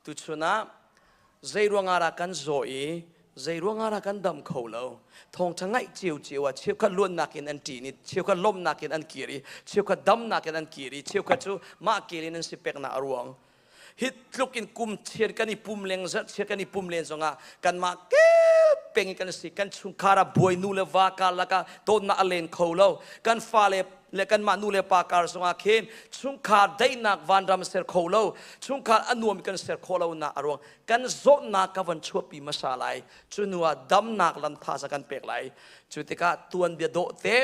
Tuchun ah zeiruangah dah kan zaw i zeiruangah dah kan dam kho lo thawngṭha ngaih ciocio ah cheukhat luannak in an ṭin i cheukhat lawmhnak in an kir i cheukhat damnak in an kir i cheukhat cu mah kir in an si peknak a ruang hi tluk in kum chiat kan i pum leng zarh chiat kan i pum len zongah kanmah kep peng i kan si kan chungkhar ah buai nu le va karlak ah tonnak a len kho lo kan fale le kanmah nu le pa kar zongah khin chungkhar daihnak vanram ser kho lo chungkhar a nuam kan ser khawh lonak a ruang kan zawtnak ka van chuahpi hmasa lai cu nu ah damnak lam thaza kan pek lai cu tikah tuanbia dawh te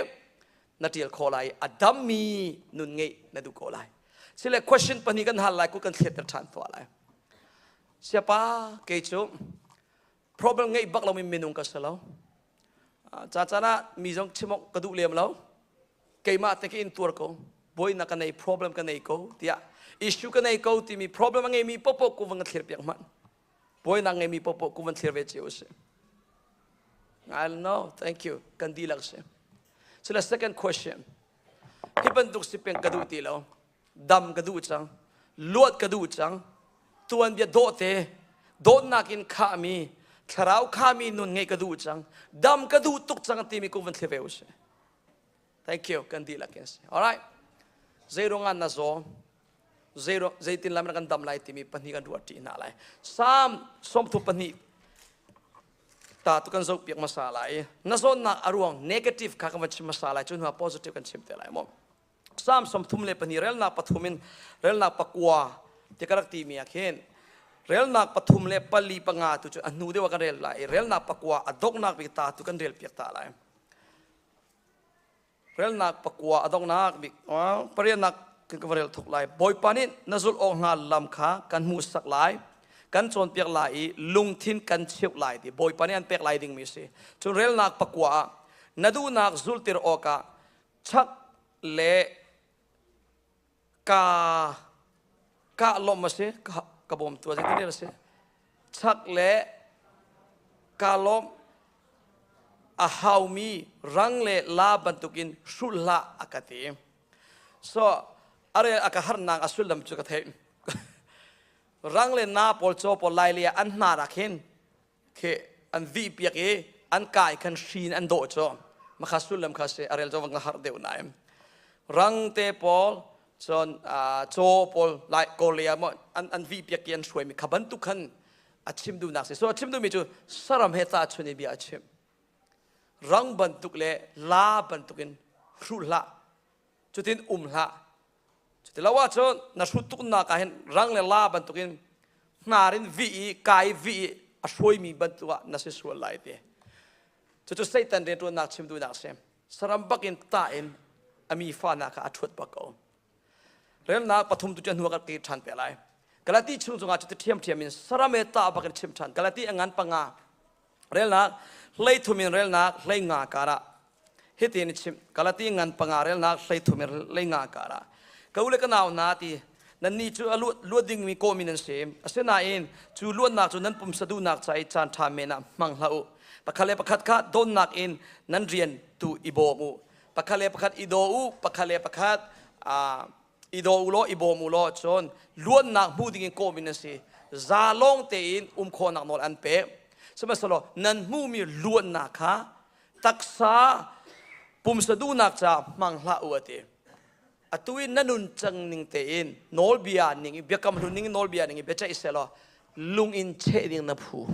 na ṭial khawh lai a dammi nun ngeih na duh ko lai sile question pahnih kan hal lai ku kan thletter ṭhan tuah lai siapa kei cu problem ngeih bak lomi minung ka si lo cacan ah mi zong chim awk ka duh lem lo keimah te ka in tuar ko buainak ka nei problem ka nei ko tiah issue ka nei ko timi problem a ngeimi popo ku van ka thlir piak hman buainak ngeimi popo ku van thlir ve ce usih I don't know thank you kan dihlak si so the second question hi bantuk si peng ka duh ti lo dam ka duh cang luat ka duh cang tuanbia dawhte dawtnak in khahmi thlarau khami nun ngeih ka duh cang dam ka duh tuk cang timi kum van thli ve usih thank you kan dihlak in si alright zeiruangan na zaw zeitin lam na kan dam lai timi pahnih kan ruat ṭi hna lai sam sawmthu pahnih ta tu kan zoh piak masa lai na zawnnak a ruang negative kha kan van chim masa lai cu hnuah positive kan chim te lai maw Psalm sawmthum le pahnih relnak pathum in relnak pakua ti ka rak timi ah khin relnak pathum le pali panga tu cu a hnu deuh ah kan rel lai i relnak pakua a donghnak bik ta tu kan rel piak ta lai relnak pakua a donghnak bik parianak kan ka rel thuk lai bawipa nih na zulh awk hna lam kha kan hmuhsak lai kan cawnpiak lai i lungthin kan cheuh lai ti bawipa nih an pek lai dingmi a si cun relnak pakua ah na duhnak zultir awkah chak le ka ka lawm a si ka, ka bawm tu zeitin a si chak le ka lawm a haumi rang le la bantukin hrulh hlah a ka ti so a rel a ka harnak a sullam cu ka theih rang le na pawl caw pawl lai le an hnanak hin khi an vih piak i an kai khan hrin an dawh cu makha sullam kha si a rel cu ka harh deuh naim rang te paul cun caw paul lai korea mo an an vih piak i an suai mi kha bantuk khan a chim dunak si so a chim dumi cu saram he ta chun i bia a chim rang bantuk le la bantuk in hruh hlah cutin um hlah cuti lo ahcun na hrut tuknak ah hin rang le la bantukin hnar in vih i ka i vih i a hruaimi bantuk ah na si sual lai ti cucu satan rianṭuannak chimtunak a si saram bakin tah in a mi fahnak kha a ṭhuat bak ko remnak pathum tu cu hnu kan ke ṭhan pe lai galati chung cungah cuti ṭhiamṭhiam in saram e tah bakin chim ṭhan galati a ngan panga relnak hleithum in relnak hleinga karah hitin i chim kalati ngan panga relnak hleithum in leinga karah ka u le ka nau na ti nannih cu a luat luat dingmi kawmi nan si asinain cu luatnak cu nan pumsa duhnak ca i caan ṭha men ah hmang hlah u pakhat le pakhat kha donnak in nan rian tu i bawm u pakhat le pakhat i daw u pakhat le pakhat aa i daw u law i bawm u law cun luannak hmu dingin kawm in a si za lawng tein um khawhnak nawl an pek sihmanhsehlaw nan hmuhmi luannak kha taksa pumsa duhnak caah hmang hlah u a ti atu in na nun cang ning tein nawlbia ning i biakam hlun ning nawlbia ning i biaceih selaw lung in cheh ding na phu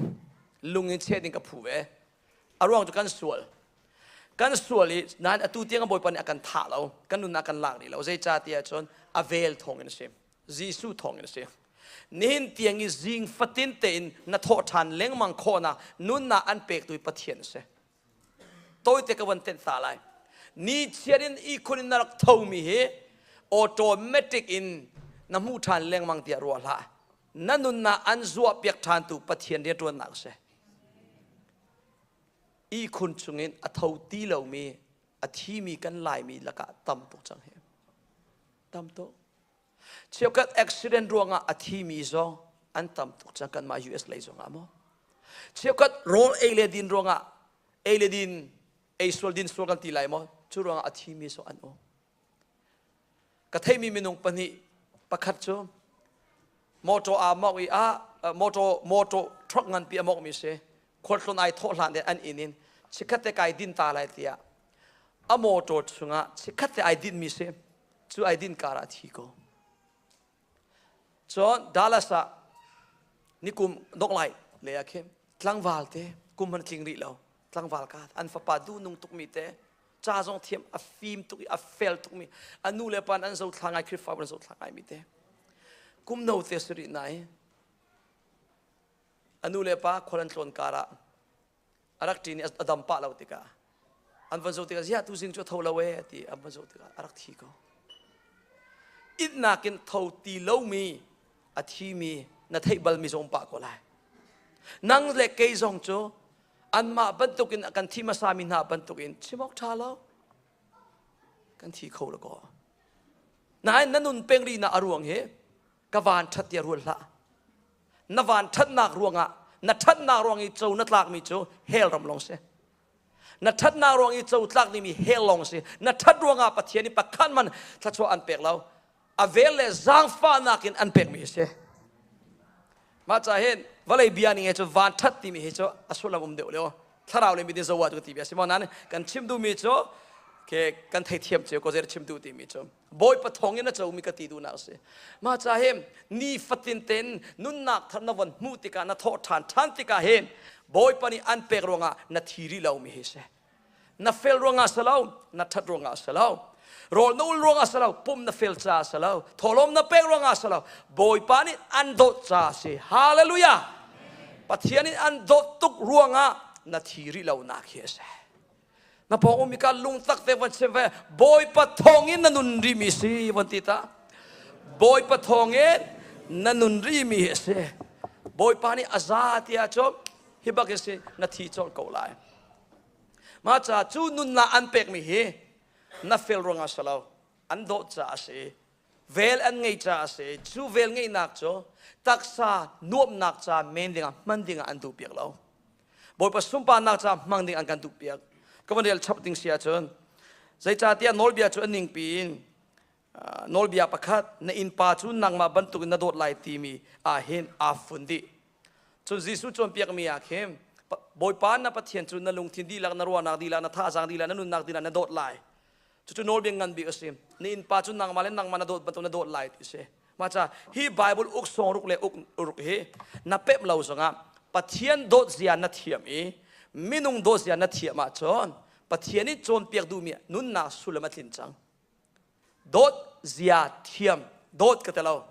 lung in cheh ding ka phu ve a ruang cu kan sual kan sual i nain atu tiang a bawipa nih a kan thah lo kan nun ah kan lak rih lo zeicahtiah cun a vel thawngin a si Jesuh thawngin a si nihin tiang i zing fatin tein na thawh ṭhan lengmang khawhnak nunnak an pektu hi Pathian a si tawite ka van tenh ta lai ni chiar in ihkhun in na rak thomi hi automatic in na hmuh ṭhan lengmang tiah ruah hlah na nunnak an zuah piak ṭhantu Pathian rianṭuannak a si ihkhun chungin a tho ti lomi a thimi kan laimi lakah tam tuk cang hi tam tuk cheukhat accident ruangah a thimi zong an tam tuk cang kanmah US lei zongah maw cheukhat rawl ei le din ruangah ei le din ei sual din sual kan ti lai maw cu ruangah a thimi zong an um ka theimi minung pahnih pakhat cu motor aa mawh i ah motor motor truck nganpi a mawhmi si khualtlun ai thawh hlan in an inn in chikkhat te kai din ta lai tiah a motor chungah chikkhat te ai dinmi si cu ai din kar ah thi ko cun Dallas ah nikum doklai le ah khin tlangval te kum an tling rih lo tlangval ka an fapa du nung tukmi te ca zong thiam a fim tuk i a fel tukmi a nu le pa an zothla ngai Khrihfa an zothla ngai mi te kum no te suri nai a nu le pa khual an tlawn kar ah a rak ṭin i a dam pah lo tikah an van zo tikah ziah tu zing cu a tho lo e ti an van zo tikah a rak thi ko itnak in tho ti lomi a thi mi na theih bal mi zong pah ko lai nang le kei zong cu anmah bantukin kan thi hmasami hna bantukin chim awk ṭha lo kan thi kho lakaw nain na nun peng rihnak a ruang hi ka van ṭhat tiah rual hlah na van ṭhatnak ruangah na ṭhatnak ruang i co na tlakmi cu hell ram lawng si na ṭhatnak ruang i co tlak dingmi hell lawng si na ṭhat ruangah pathian i pakhan man thluachuah an pek lo a vel le zaangfahnak in an pekmi a si mah ca hin vawlei bia ning he cu van ṭhat timi hi cu a sullam um deuh leo thlarau le midin zawa cu tibi a si maw nan kan chim duhmi cu ke kan theithiam cu ko zer chim duh timi cu bawipa thawng in a comi ka ti duhnak a si mah ca hi ni fatin ten nunnak thar na von hmuh tikah na thawh ṭhan ṭhan tikah hin bawipa nih an pek ruangah na thi rih lomi hi si na fel ruangah si lo na ṭhat ruangah si lo rawl na ul ruangah si lo pum na fel caah si lo thawhlawm na pek ruangah si lo bawipa nih an dawt caah a si hallelujah pathian in an dawt tuk ruangah na thi rih lonak hi a si na pawng um ka lungtak te van sim ve bawipa thawngin na nun rimi si van ti ta bawipa thawngin na nun rimi hi a si bawipa nih a za tiah cu hi bak hi si na thi cawk ko lai Mah caah cu nunnak an pekmi hi na fel ruangah si lo, an dawh caah a si i vel an ngei caah a si i cu vel ngeihnak cu taksa nuamhnak caah men dingah hman dingah an duh piak lo. Bawipa sunparnak caah hmang ding an kan duh piak. Ka van rel chap ding si ahcun zeicahtiah nawlbia cu a ningpi in nawlbia pakhat na innpa cu nangmah bantukin na dawt lai timi ah hin aa fun dih cun Jesuh cawnpiakmi ah khin Bawipa na Pathian cu na lungthin dihlak na ruahnak dihlak na thazang dihlak na nunnak dihlak na dawt lai cucu nawlbia ngan bik a si na innpa cu nangmah le nangmah na dawt bantuk na dawt lai ti a si maca hi Bible uk sawng ruk le uk ruk hi na pep lo zongah Pathian dawt zia na thiam i minung dawt zia na thiam ahcun Pathian i cawnpiak duhmi nunnak sullam a tlin cang dawt zia thiam dawt ka te lo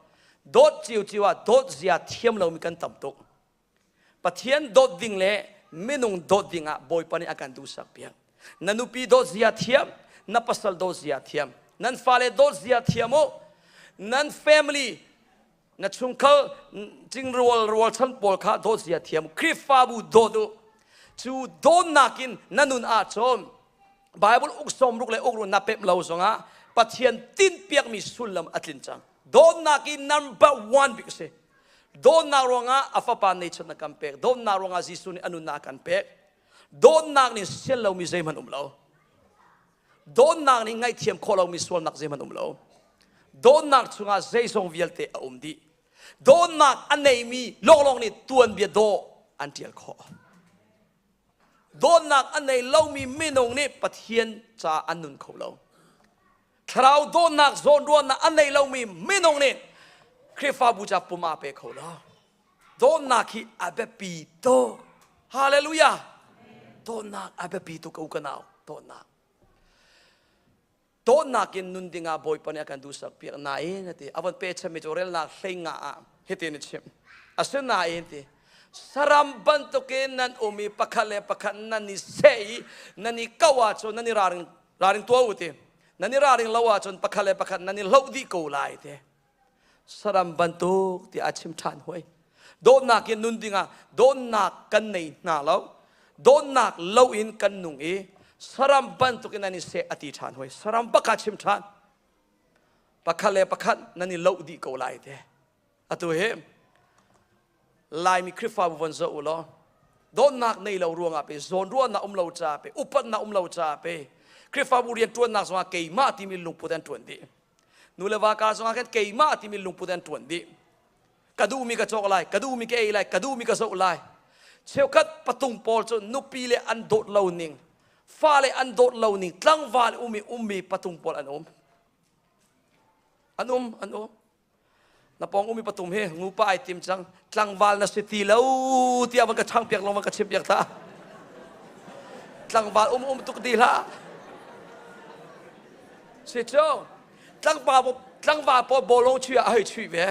dawt ciu ciu ah dawt zia thiam lomi kan tam tuk pathian dawt ding le minung dawt ding ah bawipa nih a kan duhsak piak na nupi dawt zia thiam na pasal dawt zia thiam nan fale dawt zia thiam u nan family na chungkhar cingrual rualchan pawl kha dawtzia thiam Khrihfabu dawt u cu dawnnak in na nun ah cun Bible uksawm ruk le ukru na pep lo zongah Pathian tinpiakmi sullam a tlin cang dawnnak in number one bik si dawnnak ruangah a fapa nature na kan pek dawnnak ruangah Jesuh nih a nunnak kan pek dawnnak nih sian lomi zeihmanh um lo Dawnnak nih ngaihthiam khawh lomi sualnak zeihmanh um lo. Dawnnak chungah zeisong vialte a um dih. Dawnnak a neimi lawnglawng nih tuanbia daw an ṭial khawh. Dawnnak a nei lomi minung nih Pathian ca an nun kho lo. Thlarau dawnnak zawnruahnak a nei lomi minung nih Khrihfabu ca pum aa pe kho lo. Dawnnak hi a biapi tuk. Hallelujah. Dawnnak a biapi tuk ko ka nau. Dawnnak. Dawnnak in nun dingah Bawipa nih a kan duhsak piak nain a ti. A von pechanmi cu relnak hleingah ah hitin a chim. Asinain ti saram bantukin nan um i pakhat le pakhat nan i seh i nan i kau ahcun nan i raring raring tuah u ti. Nan i raring lo ahcun pakhat le pakhat nan i hloh dih ko lai ti. saram bantuk tiah a chim ṭhan hoi dawtnak in nun dingah dawtnak kan nei hna lo dawtnak lo in kan nung i saram bantuk in nan i seh a ti ṭhan hoi saram baka chim ṭhan pakhat le pakhat nan i lo dih ko lai te atu hi Laimi Khrihfabu von zoh u law dawtnak nei lo ruangah pe zawnruahnak um lo ca pe upatnak um lo ca pe Khrihfabu rianṭuannak zongah keimah timi lungput an ṭuan dih nu le va ka zongah khan keimah timi lungput an ṭuan dih ka duhmi ka cawk lai ka duhmi ka ei lai ka duhmi ka zoh lai cheukhat patung pawl cu nupi le an dawt lo ning fale an dawt lo ning tlangval um i ummi patung pawl an um an um an um na pawng umi patum hi ngupa ai tim cang tlangval na si ti lo tiah van ka chang piak lo van ka chim piak ta tlangval um um tuk ti hlah si cu tlangpa tlangval pawl bolong chui a hei chui ve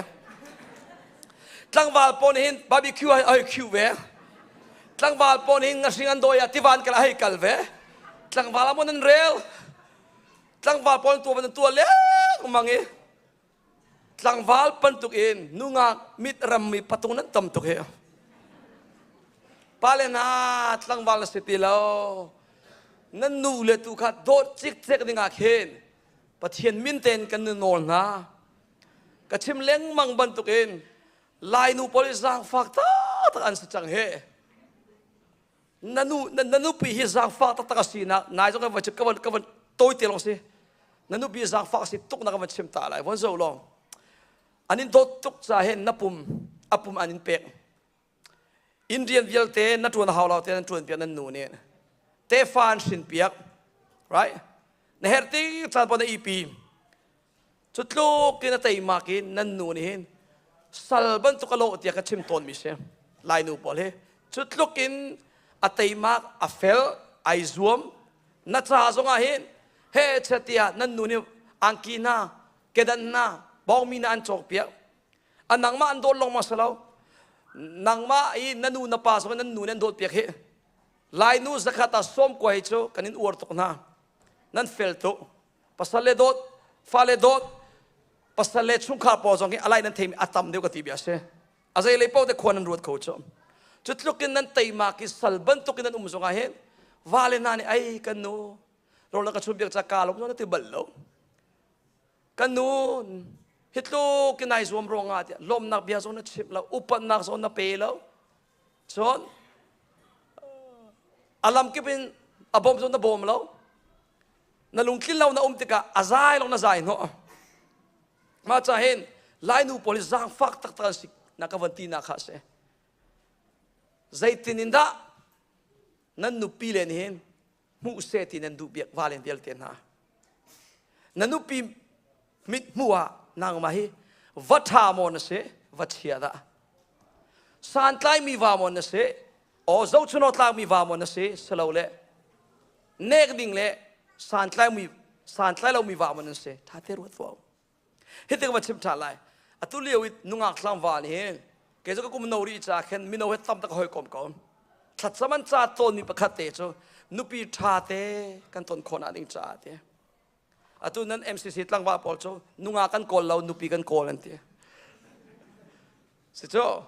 tlangval pawl hin barbecue a hei khiu ve tlangval pawl hin ngahring an doi a tivan kala hei kal ve tlangval amon an rel tlangval pawl tu van an tua leng mang i Tlangval bantuk in nungak mit rammi patung nan tam tuk hi. Pale na tlangval na si ti lo. Nan nu le tu kha dawt cikcek dingah khin Pathian min tein kan nu nawl hna. Ka chim lengmang bantuk in Lainu pawlih zaangfak tak an si cang he. nanu na nupi hi zangfah taktak a si na nai zong ka van ka van ka van tawi te long si na nupi hi zangfah a si tuk na ka van chim ta lai von zo long an in dawt tuk ca hen na pum a pum an in pek in rian vialte na tuan hau lo te nan tuan piak nan nu nih te fa an shin piak right na her ti chan po na ipi cu tluk in a teimak i nan nu nih hin sal bantuk a lawh tiah ka chim tawnmi si lainu pawl hi cu tluk in a teimak a fel ai zuam na ca zongah hin he tiah nan nu nih angki hna kedan hna bawngmi hna an cawkpiak a nangmah an dawt longmang si lo nangmah i na nu na pa zong nan nu nih an dawt piak hi lainu zakhat ah sawm kua hi cu kan in uar tuk hna nan fel tuk pasal le dawt fale dawt pasal le chungkhar paw zong hi alai nan theimi atam deuh ka ti bia si a zei lei paoh te khuan nan ruat kho cu cu tlukin nan teima ki sal bantukin nan um zongah hin vale hna nih ai kan nu rola ka chun biak ca ka lom na ti bal lo kan nu hitlu kinai zuam ruangah tiah lomnak bia zong na chimh lo upatnak zong na pe lo Cun a lamkip in a bawm cun na bawm lo. Na lungtlin lo na um tikah a zai lo na zai hnawh. Mah ca hin lainu pawl hi zaangfak taktak an si na ka van ti na kha a si. Zeitin in dah nan nupi le nih hin hmuh seh ti nan duhpiak va len vialte hna na nupi mit hmuh ah nangmah hi va ṭha maw na si va chia dah santlaimi va maw na si aw zohchuno tlakmi va maw na si silo le nek ding le santlai mi santlai lomi va maw nan si ṭha te ruat fa Hitin ka va chim ṭhan lai. Atu lio i nungak tlangval hi kei cu ka kum no rih ca khin mino he tam tak ka hoi kom ko. Thlatsam an ca tawnmi pakhat te cu nupi ṭha te kan ton khawh ding caah ti. Atu nan MCC tlangval pawl cu nungak kan kawl lo, nupi kan kawl an ti. Sicu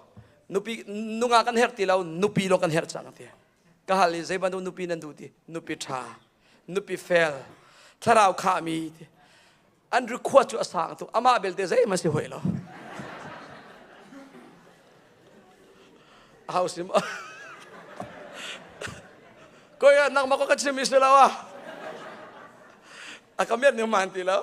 nupi nunga kan herh ti lo nupi lo kan herh cang ti. Ka hal i zei bantuk nupi nan duh ti nupi ṭha, nupi fel, thlarau khahmi ti. An request cu a sang tuk. Amah belte zeihmanh si hoi lo. A hau sim. Koi ah nangmah ko ka chim mi si lo ah. A ka miat ning man ti lo.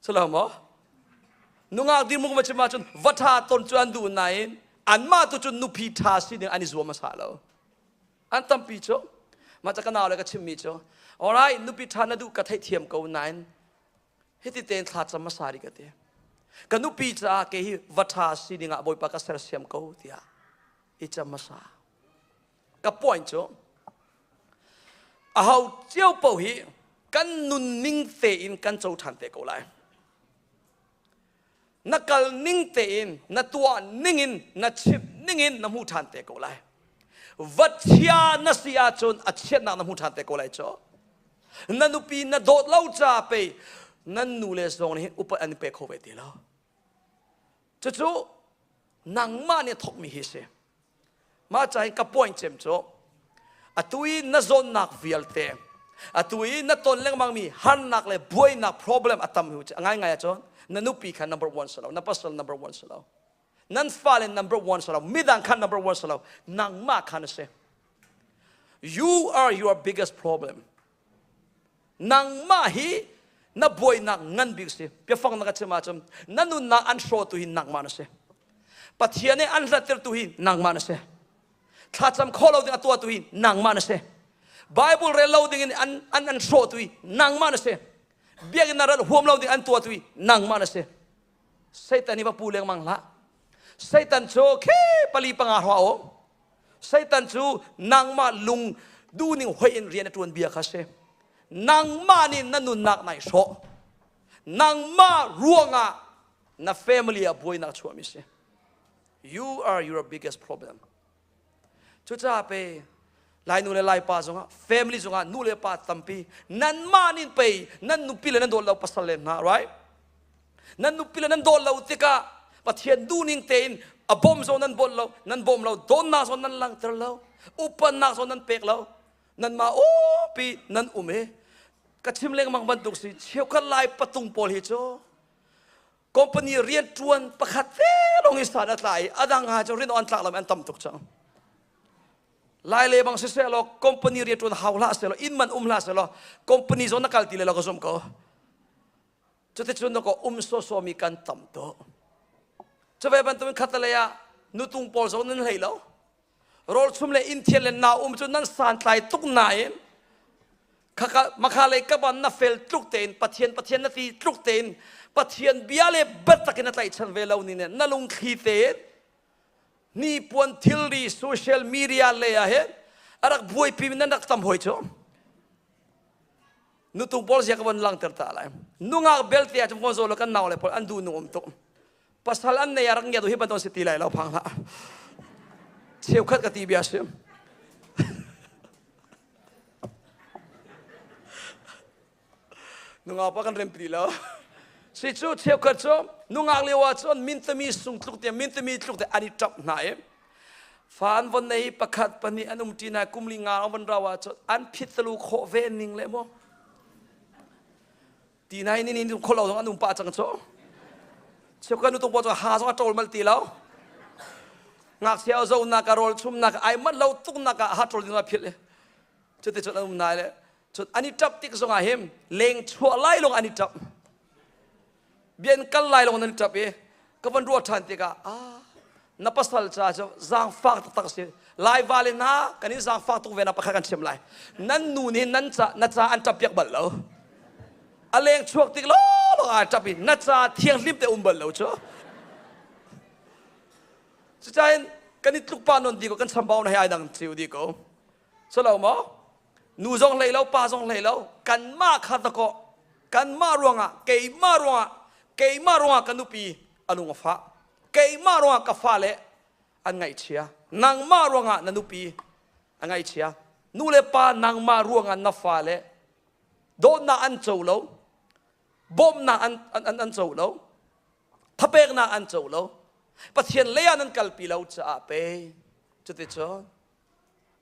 Salo maw? Nungak ding mung chim ahcun va ṭha ton cu an duh nain anmah tu cun nupi ṭha si ding an i zuam hmasa lo. An tampi cu mah ca ka nau le ka chimmi cu alright nupi ṭha na duh ka theihthiam ko nain hiti tein thla cam hmasa rih ka ti. Ka nupi caah ke hi va ṭha si dingah Bawipa ka sersiam ko tiah i cam hmasa. ka point cu aho cio paoh hi kan nunning tein kan co ṭhan te ko lai na kal ning tein na tuah ningin na chimh ningin na hmu ṭhan te ko lai va chia na si ahcun a chiatnak na hmu ṭhan te ko lai cu na nupi na dawt lo ca pei nan nu le zong nih upat an i pe kho ve ti lo cucu nangmah nih thawkmi hi si mah ca hin ka point cem cu atu i na zawnnak vialte atu i na ton lengmangmi harnak le buainak problem a tam hi a ngaingai ahcun na nupi kha number one si lo na pasal number one si lo nan fale number one si lo midang kha number one si lo nangmah kha na si you are your biggest problem nangmah hi na buainak ngan bik si biafang na ka chim ahcun na nunnak an hrawtu hi nangmah na si pathian nih an hlattertu hi nangmah na si thlacam khawh lo ding a tuahtu hi nangmah na si bible rel lo ding in an an an hrawtu hi nangmah na si biakinn na rat huam lo ding an tuahtu hi nangmah na si Satan i va pu lengmang hlah. Satan cu khi pali panga hra o. Satan cu nangmah lung duhning hoi in rian a tuan bia kha si. Nangmah nih na nunnak nai hrawh. Nangmah ruangah na family a buainak chuahmi si. You are your biggest problem. Cucaah pe Lainu le Laipa zongah family zongah nu le pa tampi nanmah nih pei nan nupi le nan dawt lo pasal le hna right nan nupi le nan dawt lo tikah Pathian duhning tein a bawm zong nan bawmh lo nan bawm lo dawnnak zong nan langhter lo upannak zong nan pek lo nanmah awpi nan um i ka chim lengmang bantuk si cheukhat lai patung pawl hi cu company riantuan pakhat fe lawng hi san a tla i a dang ha cu rian on tlak lo an tam tuk cang lai le bang siseh law company riantuan hau hlah selaw inn man um hlah selaw company zong na kal ti le lo ka zumh ko cuticun na ko um soso mi kan tam to cuve bantuin khatalei ah nutung pawl zong nan hlei lo Rawlchum le inthian le naum cu nan santlai tuk nain makha lei kaban na fel tluk tein pathian pathian na ti tluk tein pathian bia le biatak in na tlaihchan ve lo ni nen na lungthli tein hnipuan thilri social media lei ah hin a rak buaipi mi nan rak tam hoi cu nutu pawl zia ka van langter ta lai nungak belte ah cun von zaw law kan nau le pawl an duh nu um tuk pasal an nei a rak ngiat hi banon si ti lai lo phang hlah cheukhat ka ti bia sim nungau pa kan rem pi lo si cu cheukhat cu nungak lio ah cun mintami sung tluk te mintami tluk te an i ṭap hna i fan von nei pakhat pahnih an um ṭina kum li nga van rawa cu an phit tlu khawh ve ning le maw ti nai ni ni khol lo zong an um pa cang cho cheu kan nu tung pa ha zong a ṭol mal te lo ngakchia zo na ka rol chum na ka ai mat lo tuk na ka ha ṭol ding na phil le chu te chon an um nai le chon ani ṭap tik zong ah him leng chuah lai long ani ṭap bian kal lai long nan ṭap e ka van ruah ṭhan tikah ah na pasal ca cu zaangfak taktak si lai va le hna kan i zaangfak tuk ve na pakhat kan ṭhiam lai nan nu nih nan ca na ca an ṭap piak bal lo a leng chuak tik lawlawng ah ṭap i na ca thianghlim te um bal lo cu cucahin kan i tlukpa non di ko kan chambau na he ai dang thiu di ko so lo maw nu zong hlei lo pa zong hlei lo kanmah kha dakaw kanmah ruangah keimah ruangah keimah ruangah ka nupi a lung a fah keimah ruangah ka fale an ngaihchia nangmah ruangah na nupi a ngaihchia nu le pa nangmah ruangah na fale dawtnak an co lo bawmnak an an an co lo thapeknak an co lo pathian leiah nan kalpi lo caah pe cuti cun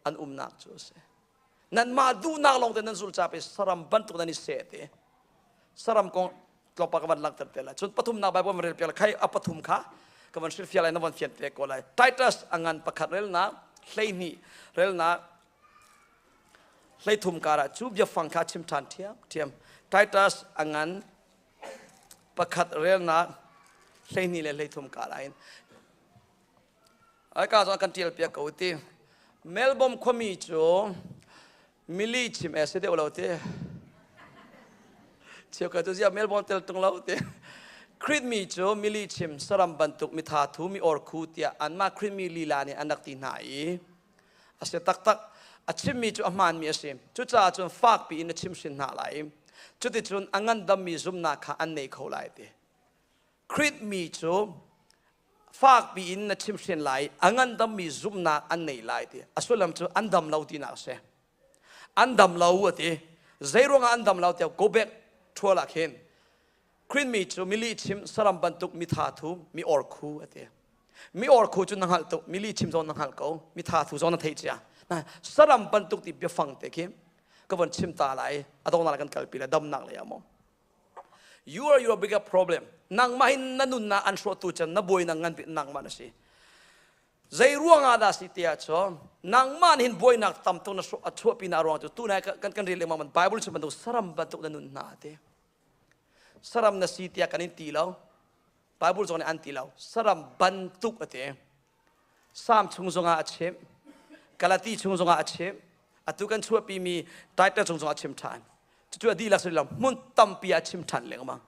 an umnak cu a si nanmah duhnak lawng te nan zul chap i saram bantuk nan i seh te saram kong tlawmpa ka van langhter te lai cun pathumnak bible ma rel piak khai a pathum kha ka van hrilhfiah lai na van fian te ko lai titus a ngan pakhat relnak hleihnih relnak hleithum karah cu biafang kha chim ṭhan thiam thiam titus a ngan pakhat relnak hleihnih le hleithum karah in Aika zong kan tial piak ko ti. Melbourne khuami cu mili chim e si deuh lo ti. Cheu ka tu ziah Melbourne tel tung lo ti. Creed mi cu mili chim saram bantuk mitha thu mi orkhu tiah anmah Creed mi lila nih an rak ti hna i a si taktak. A chimmi cu a hmaanmi a si. Cucaah cun fak piin a chim hrin hna lai. Cuticun a ngandammi zumhnak kha an nei kho lai ti. Krit mi cu fakpi in na chimhhren lai a ngandammi zumhnak an ngei lai ti a sullam cu an dam lo tinak a si an dam lo a ti zeiruangah an dam lo tiah go back ṭhual ah khin Krit mi cu mili chim saram bantuk mi tha thu mi or khu a ti mi or khu cu na hngalh tuk mili chim zong na hngalh ko mi tha thu zong na theih cia na saram bantuk ti biafang te khi ka von chim ta lai a dongnak kan kalpi le damnak lei ah maw You are your bigger problem. Nangmah in na nunnak an hrawtu chan na buai nang ngan bik nangmah na si. Zei ruang ah dah si ti ah cun nangmah nih hin buainak tam tuk na a chuahpi na ruang cu tu na kan kan rel lengmang man Bible cu bantuk saram bantuk na nun hna te. Saram na si tiah kan in ti lo. Baibal zong nih an ti lo. Saram bantuk a ti. Sam chung zongah a chim. Galati chung zongah a chim. Atu kan chuahpimi Titus chung zongah a chim ṭhan. Cucu a dihlak suri lo. Hmun tampi a chim ṭhan lengmang.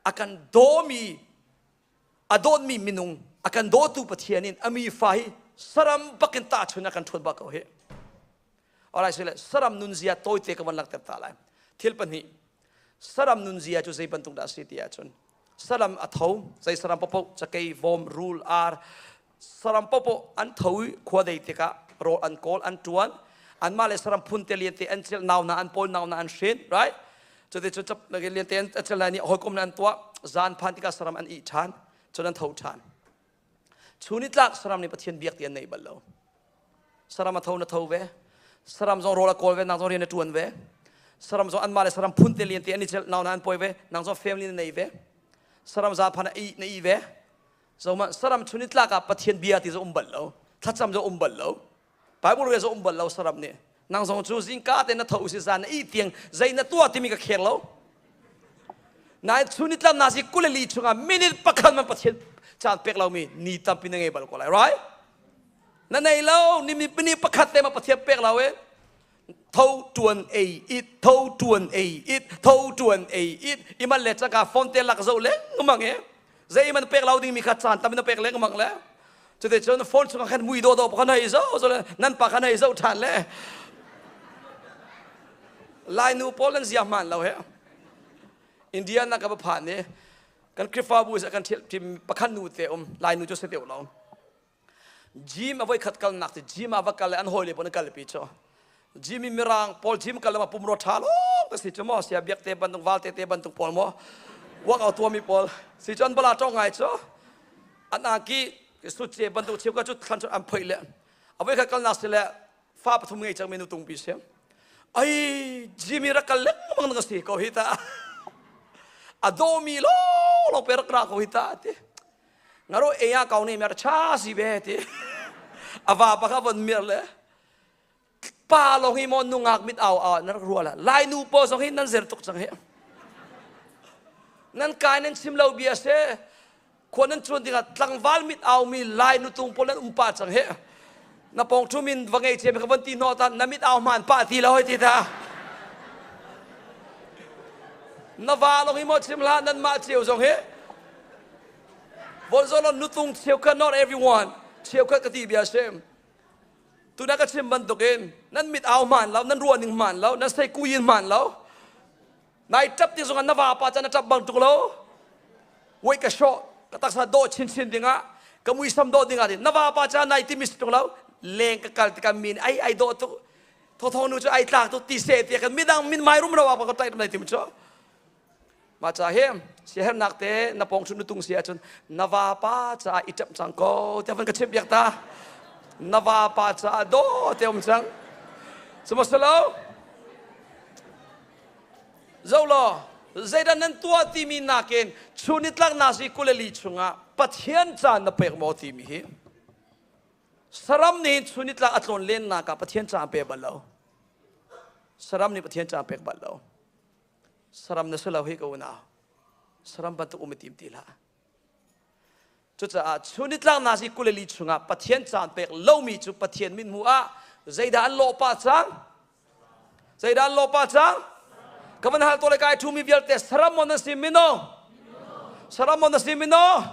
A kan dawmi, a dawtmi minung, a kan dawtu Pathian in a mi fa hi saram bakin tahchun a kan ṭhuat bak ko hi. Alright, so saram nunzia tawite ka van langhter ta lai. Thil pahnih. Saram nunzia cu zei bantuk dah a si ti ahcun, saram a tho zei saram popo cakei vom rule ar saram popo an tho i khua dei tikah rawl an kawl an tuan an mah le saram phun te lian te an chil nau na an pawl nau na an hrin right cute cu chap lagi lian te an chil lai ni hawikom na an tuah zan phan tikah saram an i than chun an tho than Chu ni tlak saram nih Pathian biak ti an nei bal lo. Saram a tho na tho ve. Saram zong rawl a kawl ve, nang zong rian a ṭuan ve. Saram zong anmah le saram phun te lian te an i cel nau na an poi ve, nang zong family na nei ve. Saram za phan na i ve. Zo man saram chun ni tlak ah Pathian bia ti zo um bal lo. Thlacam zo um bal lo. Bible rial zong um bal lo saram nih nang zong cu zingka te na tho si zan na ih tiang zei na tuah timi ka kheng lo nain chu ni tlam na si kuleli chungah minute pakhat man pathian caan pek lomi ni tampi na ngei bal ko lai right na nei lo nimni pini pakhat te ma pathian pek lo e tho tuan ei it tho tuan ei it tho tuan ei it iman le chaka phone te lak zo lengmang e zei man pek lau ding mi kha chan tam na pek lengmang le cute chun phone chung khan mui do do pa khan hai zo zo le nan pa khan hai zo than le lai nu poland zia man lo he india na ka ba phan ne kan krifabu sa kan thil tim pakhan nu te um lai nu chu se teu lo gym a voi khat kalnak ti gym ah va kal le an hawile pon kal pi chu gym i mirang paul gym kal ma pumro tha lo ka si chu mo sia biak te bantuk val te te bantuk paul mo wak au tua mi paul si chon bala tong ngai chu an aki su che bantuk chiu ka chu thlan chu am phoi le a voi khat kalnak si le fa pathum ngei chang menu tung pi sem ai jimmy ra kal lek mang ka si ko hita a do mi lo lo per kra ko hita ti ngaro e ya kau ne mer cha si be ti awa ba ka von mer le pa long hi mo nungak mit au au nar ruala lai nu po song hi nan zer tuk chang he nan kai nan chim lo bia se khon nan chuan ding at tlangwal mit au mi lai nu tung pol nan umpa chang he na pong ṭhum in va ngei thiam ka von ti hnawh tan na mit au hmaan pah ti lo hoi ti ta na va lawng hi maw chim hlah nan mah cio zong hi vonzolon nutung cheukhat not everyone cheukhat ka ti bia sim tuna ka chim bantukin nan mit au hmaan lo nan ruah ning hmaan lo nan sei kuyin hmaan lo nai ṭap ti zongah na vapa cu na ṭap bang tuk lo wei ka hrawh ka taksa dawh chinchin dingah ka muisam dawh dingah na vapa cu nai timi si tuk lo leng ka kal tikah min ai ai dawh tuk thawthawng nu cu ai tlak tuk ti se ti kan midang min mai rum ro apa ka ṭai tum lai tim cu maca he siahernak te na pong chun tung si ahcun na vapa ca i ṭap cang ko te van ka chimh biak ta na vapa ca dawh te um cang sumahselo Zo law zeidah nan tuah timi nakin chu nitlaknak zi kuleli chungah Pathian ca na pek maw timi hi saram nih chu nitlak a tlawn lennak ah Pathian ca an pek bal lo saram nih Pathian ca an pek bal lo saram na si lo hi ka unau saram bantuk um i tim ti hlah Cucaah cu nitlangnak i kuleli chungah Pathian caan pek lomi cu Pathian mit hmuh ah zeidah an lawh pah cang? Zeidah an lawh pah cang? Ka van hal to le kai ṭhumi vialte saram mon na si mino? Saram mon na si mino?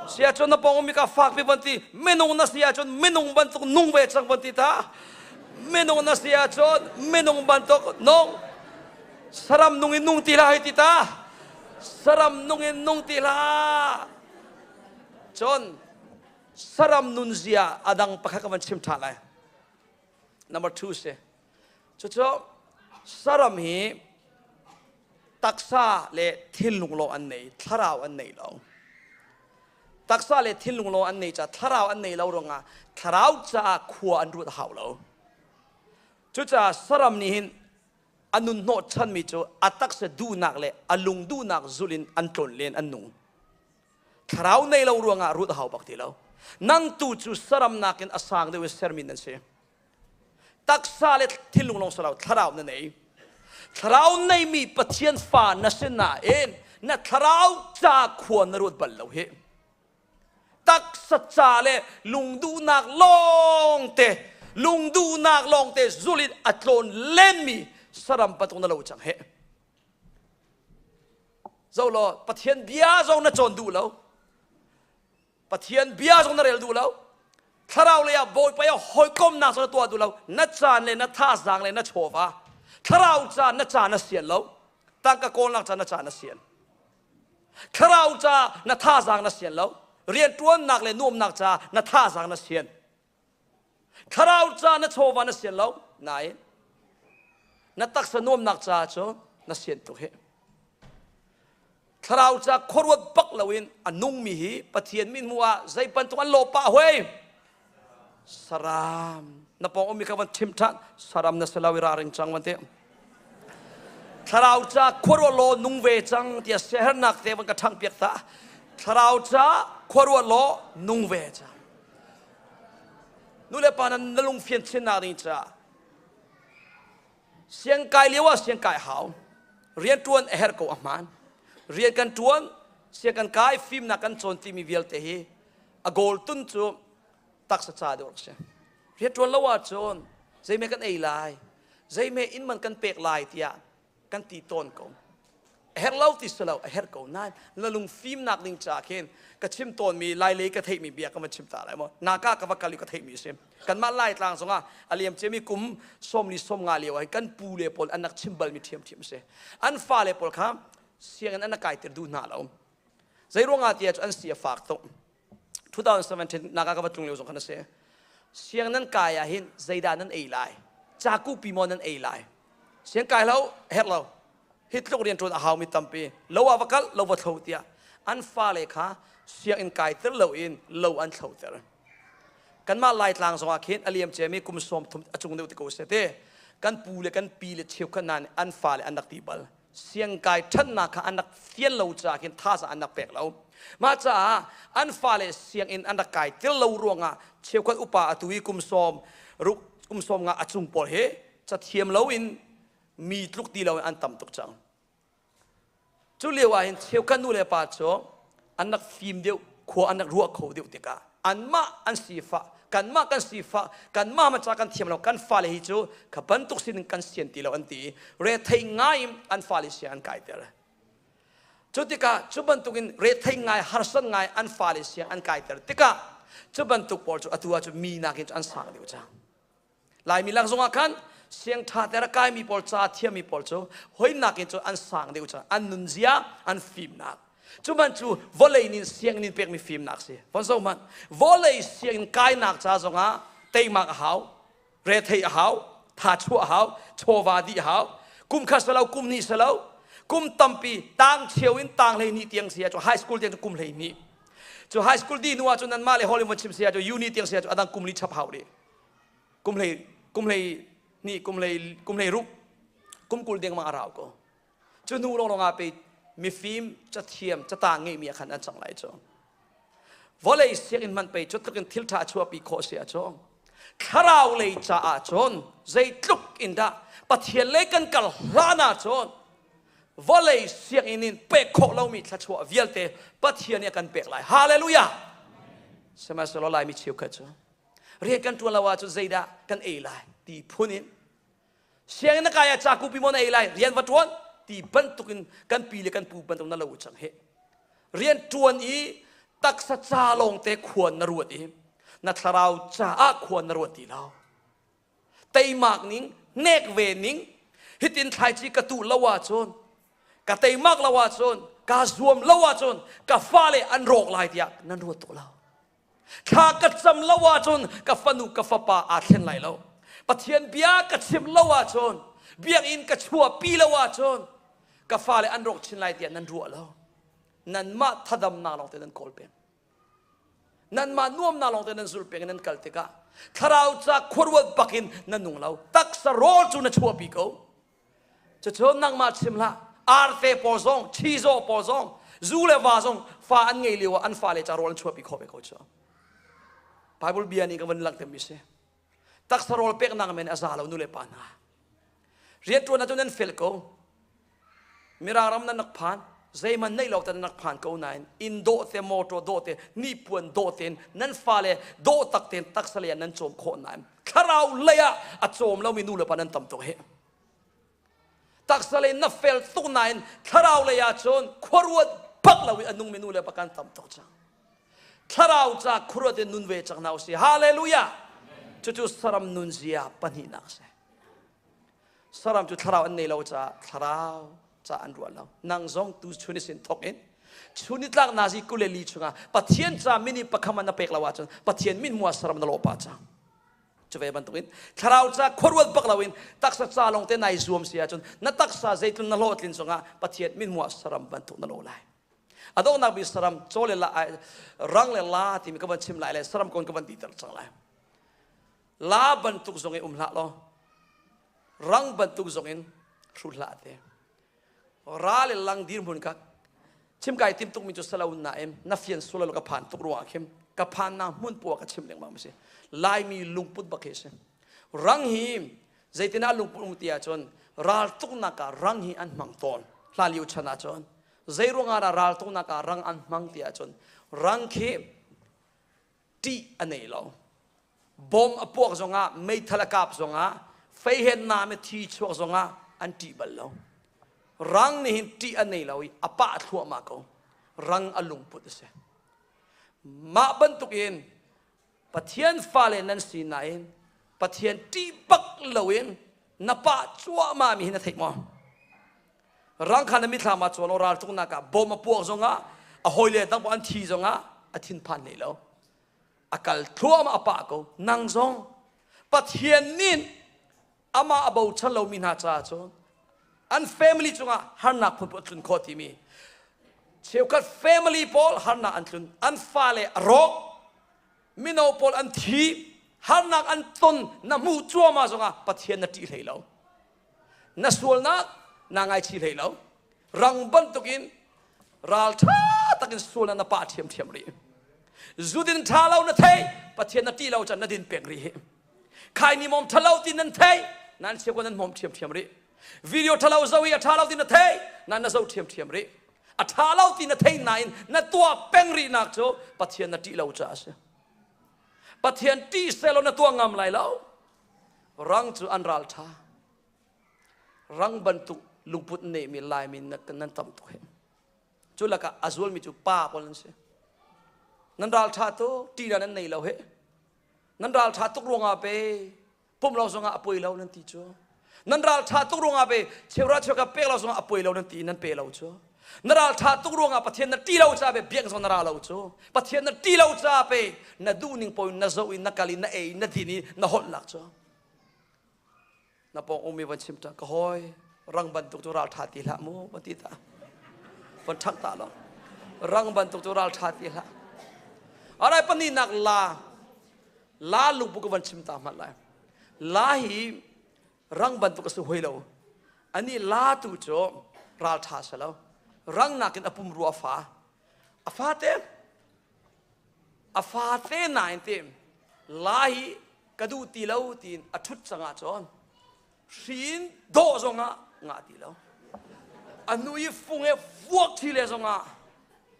Si ahcun na pawng ummi ka fak pi van ti minung na si ahcun minung bantuk nung ve cang van ti ta minung na si ahcun minung bantuk nung saram nung in nung ti hlah hei ti ta saram nung in nung ti hlah cun saram nunzia a dang pakhat ka van chim ṭha lai number two si cucu saram hi taksa le thinlung lawng an nei thlarau an nei lo taksa le thinlung lawng an nei ca thlarau an nei lo ruangah thlarau caah khua an ruat hau lo cucaah saram nih hin a nun hnawhchanmi cu a taksa duhnak le a lung duhnak zulh in an tlawn len an nung. Thlarau nei lo ruangah ruat a hau bak ti lo. Nang tu cu saram nakin a sang deuh i sermi nan si. Taksa le thinlung lawng silo thlarau na nei. Thlarau neimi Pathian fa na si nain na thlarau ca khua na ruat bal lo hi taksa ca le lungduhnak lawngte lungduhnak lawngte zul in a tlawn lenmi saram patung na lo cang he zo law pathian bia zong na cawn duh lo pathian bia zong na rel duh lo thlarau lei ah bawipa ah hawikomnak zong na tuah duh lo na caan le na thazaang le na chawva thlarau caan na caan na sian lo tangka kawlnak caan na caan na sian thlarau ca na thazaang na sian lo rianṭuannak le nuamnak ca na thazaang na sian thlarau ca na chawva na sian lo nain na taksa nuamnak ca cu na sian tuk hi thlarau ca khuaruat bak loin a nungmi hi pathian min hmuh ah zei bantuk an lawh pah hoi saram na pawng umi ka van thim than saram na selaw i ra ring chang wan te thlarau ca khuaruah law nung ve cang tia sehernak te van ka thang piak ta thlarau ca khuaruah law nung ve cang nu le pa nan na lung fian chin na ding ca siang kai liawa ah siang kai hau rian tuan a her ko a hman rian kan tuan siang kan kai fim na kan chawn timi vialte hi a goal tun cu taksa ca deuh rak si rian ṭuan lo ahcun zeime kan ei lai zeime inn man kan pek lai tiah kan ti tawn ko a herh lo ti si lo a herh ko nain na lung fimnak ding ca khin ka chim tawnmi lailei ka theihmi bia ka van chim ta lai maw naka ka va kal i ka theihmi a si kanmah laitlang zongah a liam ciami kum sawmli sawm nga lio ah kan pu le pawl an rak chim balmi ṭhiamṭhiam a si an fale pawl kha sianginn an rak kaitir duh hna lo Zeiruangah tiah cu an si a fak tuk. 2017 naga ka va tlung lio zong khan a si. Siang nan kai ah hin zeidah nan ei lai? Ca kuhpi maw nan ei lai? Siang kai lo, herh lo. Hi tluk rian ṭuan a haumi tampi, lo ah va kal, lo va thlo tiah an fale kha sianginn kaiter loin lo an thloter. Kanmah Laitlang zongah khin a liamciami kum sawm thum a cung deuh te ko seh ti kan pu le kan pi le cheukhat hna nih an fale an rak ti bal. siangkai ṭhannak kha an rak fial lo caah khin thazaang an rak pek lo. Mah caah an fale sianginn an rak kai tir lo ruangah cheukhat upa atu i kum sawm kum sawm nga a cung pawl hi cathiam loin mi tluk ti loin an tam tuk cang. Cu lio ah hin cheukhat nu le pa cu an rak fim deuh khua an rak ruah kho deuh tikah anmah an sifah kanmah kan sifah kanmah maca kan thiam lo kan fale hi cu ka bantuk sin kan sian ti lo an ti i rethei ngai in an fale sia an kaiter cu tikah cu bantukin rethei ngai harsan ngai an fale sia an kaiter tikah cu bantuk pawl cu atu ah cu mi nakin cu an sang deuh cang Laimi lak zongah khan siangṭha ter a kaimi pawl ca thiami pawl cu hoinak in cu an sang deuh cun an nunzia an fimnak cu man cu vawlei nin sianginn in pekmi fimnak si von zo hmanh vawlei sianginn kainak ca zongah teimak a hau retheih a hau tha chuah a hau chawva dih a hau kum khat salo kum hnih salo kum tampi tang cheu in tang hlei ni tiang sia cu high school tiang cu kum hlei ni cu high school di hnu ah cun nanmah le hollywood chim sia cu uni tiang sia cu adang kum li chap hau rih kum hlei kum hlei ni kum hlei kum hlei ruk kum kul deng ma a rau ko cu nu lawng lawngah pe mifim cathiam cata ngeihmi ah khan an cang lai cu vawlei sianginn man pei cu tlukin thil ṭha chuahpi khawh si a cu thlarau lei caah cun zeitluk in dah pathian lei kan kal hlan ah cun vawlei sianginn in pek khawh lomi thluachuah vialte pathian nih a kan pek lai hallelujah sihmanhsehlaw laimi cheukhat cu rian kan ṭuan lo ahcun zeidah kan ei lai ti phun in sianginn na kai ah ca kupi maw na ei lai rian va ṭuan ti bantuk in kan pi le kan pu bantuk na lo cang hi rian ṭuan i taksa ca lawngte khuan na ruat i na thlarau caah khuan na ruat ti lo teimak ning nek ve ning hitin thlaici ka tu lo ahcun ka teimak lo ahcun kaa zuam lo ahcun ka fale an rawk lai tiah nan ruat to lo Thla ka cam lo ahcun ka fanu ka fapa aa thleng lai lo. Pathian bia ka chim lo ahcun, biakinn ka chuahpi lo ahcun, ka fale an rawk chin lai tiah nan ruah lo. Nanmah thadamnak lawngte nan kawl peng. Nanmah nuamnak lawngte nan zul peng i nan kal tikah thlarau ca khuaruat bak in na nung lo. Taksa rawl cu na chuahpi ko. Cucun nangmah chim hlah arte pawl zong chizaw pawl zong zu le va zong fa an ngei lio ah an fale ca rawl an chuahpi khawh ve ko cu Bible bia nih kan van langh timi si taksa rawl peknak men a za lo nu le pa hna rianṭuan ahcun nan fel ko mirang ram nan rak phan zeiman neih lo tan nak phan ko nain in dawh te motor dawh te nipuan dawh ten nan fale dawh tak ten taksale nan cawm khawh nain thlarau lei ah a cawm lomi nu le pa nan tam tuk hi taksa lei na fel tuk nain thlarau lei ah cun khuaruat bak loin a nungmi nu le pa kan tam tuk cang thlarau ca khuaruat in nun ve cang na u si hallelujah cucu saram nun zia pahnihnak a si saram cu thlarau an nei lo caah thlarau ca an ruah lo nang zong tu chun i sin thawk in chun i tlak nazi kule li chungah pathian ca mini pakham na pek lo ahcun pathian min mua saram na lawh pa cang cu ve bantukin thlarau ca khuaruat bak loin taksa ca lawng te nai zuam si ahcun na taksa zeitlun na hlawhtlin cungah pathian min mua saram bantuk na lo lai adonghnak bi saram chole la rang le la timi ka van chim lai le saram kon ka van diter cang lai la bantuk zong in um hlah law rang bantuk zong in hru hlah te ra le lang dirhmun kak chim kai tim tuk mi cu salaun na em na fian sulal ka phan tuk ruwa khim ka phan na mun puwa ka chim lengmang si laimi lungput bakhe si rang hi zeitina lungput um tia chon ral tuk na ka rang hi an mang ton hla liu chana chon zeirung ara ral tuk na ka rang an mang tia chon rang khi ṭih a nei lo bom a puak zongah meithal a kap zongah feihennak me thi chuak zongah an ṭih bal lo rang nih hin ṭih a nei lo i a pah thluahmah ko rang a lungput a si mah bantuk in pathian fale nan si nain pathian ṭih bak loin na pah cuahmah mi hi na theih maw rangkhan a mithlam ah chuan o ralcung nak ah bom a puak zong ah a hawile dang an thi zong ah a thinphan ne lo a kal thluam a pa ko nang zong pathian nin ama a bochan lo mi hna caah cun an family cungah harnak phun a tlun kho timi cheukhat family pawl harnak an tlun an fale a rawk mino pawl an thi harnak an ton na hmu cuama zongah pathian na ṭih hlei lo na sualnak naa ngaichi hlei lo rang bantukin ralṭha takin sualnak na pah ṭhiamṭhiam rih zudin ṭha lo na thei pathian na ṭih lo can na din pek rih hi khai ni mawm ṭha lo ti nan thei nan chiako nan mawm ṭhiamṭhiam rih video ṭha lo zo i a ṭha lo ti na thei nan na zo ṭhiamṭhiam rih a ṭha lo ti na thei nain na tuah peng rihnak cu pathian na ṭih lo caah a si pathian ṭih sehlaw na tuah ngam lai lo rang cu an ral ṭha rang bantuk lungput nehmi laimi nan tam tuk he cu lakah a zulmi cu pa pawl an si nan ral ṭha tuk ṭihna nan nei lo he nan ral ṭha tuk ruangah pe pum lo zongah a poi lo nan ti cu nan ral ṭha tuk ruangah pe cheuhra cheuka pek lo zongah a poi lo nan ti nan pe lo cu na ralṭha tuk ruangah Pathian na ṭih lo ca pe biak zawn na ra lo cu Pathian na ṭih lo ca pe na duh ning poin na zoh i na kal i na ei na din i na holh lak cu na pawng ummi van chim ṭa ka hoi rang bantuk cu ralṭha ti hlah mu va ti ta van ṭhangh ta lo rang bantuk cu ralṭha ti hlah alai pahnihnak la la lungput ka van chim ta hmat lai la hi rang bantuk a si hoi lo ani latu cu ralṭha si lo rang nakin a pum ru a fa a fate a fate nain te la hi ka duh ti lo tiin a ṭhut cangah cun hrin dawh zongah ngah ti lo a nu i fung he vuak ṭhi le zongah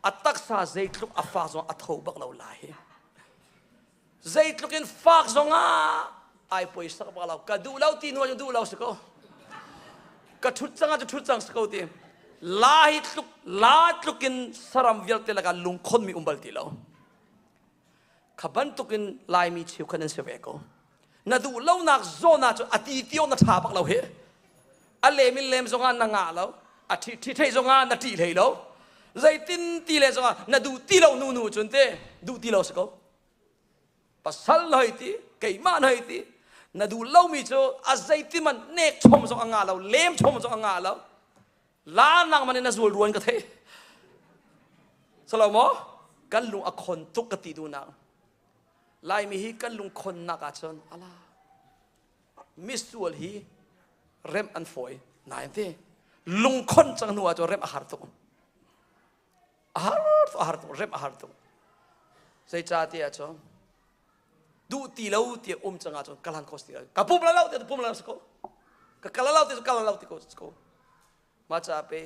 a taksa zeitluk a fa zong a tho bak lo lai hi zeitluk in fak zongah ai poisa ka pek lo ka duh lo ti nuan duh lo si ko ka thut cang ah thut cang si ko ti la hi tluk la tluk in saram vialte laka lungkhon mi um bal ti lo kha bantuk in laimi cheu khan an si ve ko na duh lo nak zona cu ati tio na tha pak lo he a lem in lem zongah na ngah lo a ṭhi thei zongah na ṭih hlei lo zeitin ti le zongah na duh ti lo nu nu cun te duh ti lo si ko pasal na hei ti keimah na hei ti na duh lomi cu a zeitiman nek chom zong a nga lo lem chom zong a nga lo la nang man in na zul ruan ka thei salomo kan lung a khon tuk ka ti du nang laimi hi kan lung khonnak ah cun ala misual hi rem an fawi nain te lungkhon cang hnu ah cun rem a har tuk a har a har tuk rem a har tuk zeicahtiah ah cun duh ti lo ti um cang ah cun kalan kos ti ka pum la lo ti pum la ko ka kala lo ti kala lo ti ko ko maca pe